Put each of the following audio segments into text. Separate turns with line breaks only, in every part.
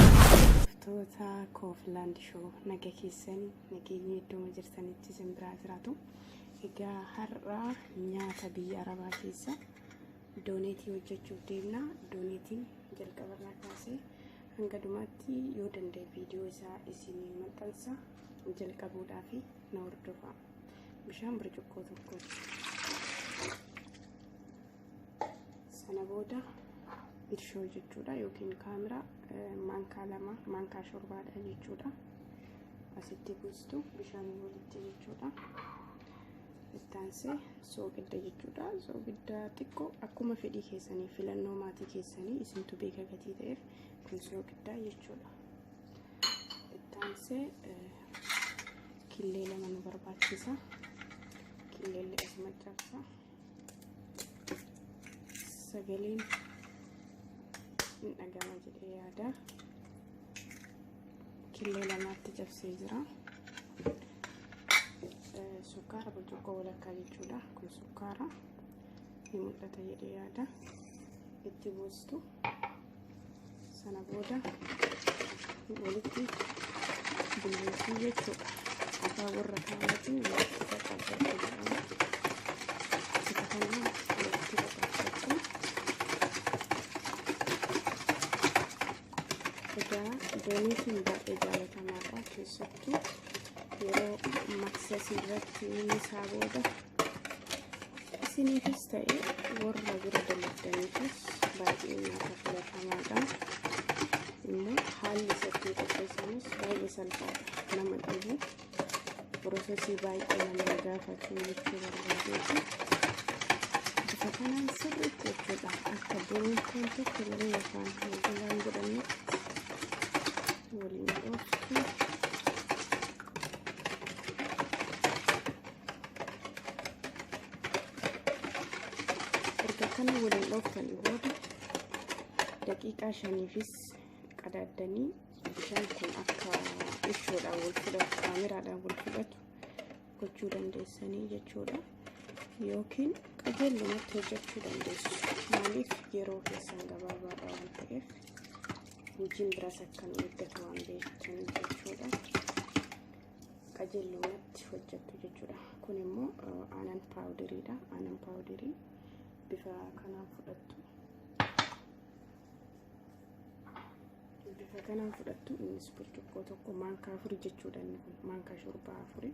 Hordoftoota Kooflaand Shoo naga keessan nageenyi iddooma jirtanitti isin biraa jiraatu. Egaa har'a nyaata biyya Arabaa keessa dooneetii hojjechuuf deemna. Dooneetiin jalqabarraa kaasee hanga dhumaatti yoo danda'e viidiyoo isaa isin maxxansa jalqabuudhaaf na hordofaa. Bishaan burcuqqoo tokko. sana booda irshoo jechuudha yookiin kaameraa maankaa lama maankaa shorbaadha jechuudha asitti buustu bishaan walitti jechuudha ittaansee soogidda jechuudha soogidda xiqqoo akkuma fedhii keessanii filannoo maatii keessanii isintu beeka gatii ta'eef kun soogidda jechuudha ittaansee killee lama nu barbaachisa killee lama cabsa sagaleen hin dhagama jedhee yaada killee lamaatti cabsee jira sukkaara burcuqqoo walakkaa jechuudha kun sukkaara ni mul'ata jedhee yaada itti buustu sana booda walitti bulleessuu jechuudha. Afaan warra kaanatiin walitti qaqqabachuu jedhama. Isa kana walitti qaqqabachuu. Egaa dooniitiin baay'ee jaalatamaadha keessatti. yeroo maksasii irratti isaa booda isiniifis ta'e warra bira dalagdaniifis baay'ee nyaata filatamaadha. Immoo haalli isatti qopheessamus baay'ee salphaadha nama dhibu pirosesii baay'ee nama gaafatu jechuu barbaadeeti. Bifa kanaan sirriitti jechuudha akka boontoon tokko yeroo yookaan hojiiwwan godhannetti waliin qooddu. Erga kana waliin dhooftanii booda daqiiqaa shaniifis qadaaddanii bishaan kun akka ishoodhaan wal fudhatu kaameraadhaan wal fudhatu gochuu dandeessanii jechuudha. Yookiin qajeelumatti hojjechuu dandeessu. Maaliif yeroo keessan gabaabaadha waan ta'eef. hojiin biraas akka nu eeggatu waan beektan jechuudha. qajeelumatti hojjettu jechuudha. Kun immoo aanan paawudiriidha. Aanan paawudirii bifa kanaan fudhattu. Bifa kanaan fudhattu innis burcuqqoo tokko maankaa afurii jechuudha inni kun maankaa shorbaa afurii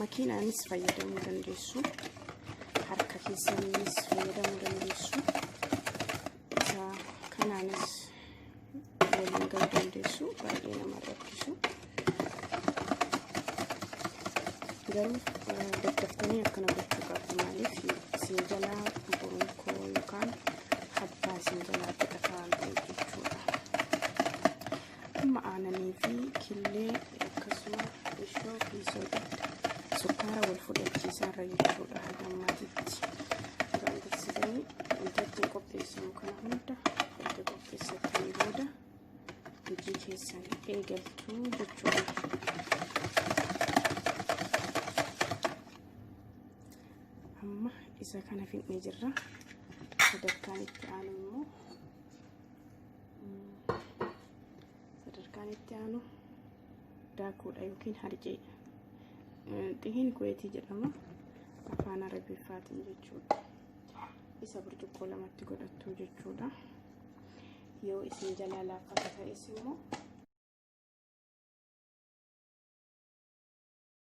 makiinaanis fayyadamuu dandeessu harka keessaniinis fayyadamuu dandeessu isa kanaanis waliin ga'uu dandeessu baay'ee nama rakkisu garuu daddaftanii akkana gochuu qabdu maaliif isin jalaa bonkoo yookaan habbaa isin jalaa godhataan jechuudha Amma aananii fi killee akkasuma ishoo fi soda sukkaara wal fudhachiisaa irra jechuudha haga ammaatitti. Duraan dursitanii wantoota qopheessan kana hunda erga qopheessatanii booda hojii keessan eegaltu jechuudha. Amma isa kana fixnee jirra. Sadarkaan itti aanu immoo sadarkaan itti aanu daakuudha yookiin harcee xihiin kuweetii jedhama afaan arabiffaatiin jechuudha isa burcuqqoo lamatti godhattu jechuudha yoo isin jalaa laaffata ta'es immoo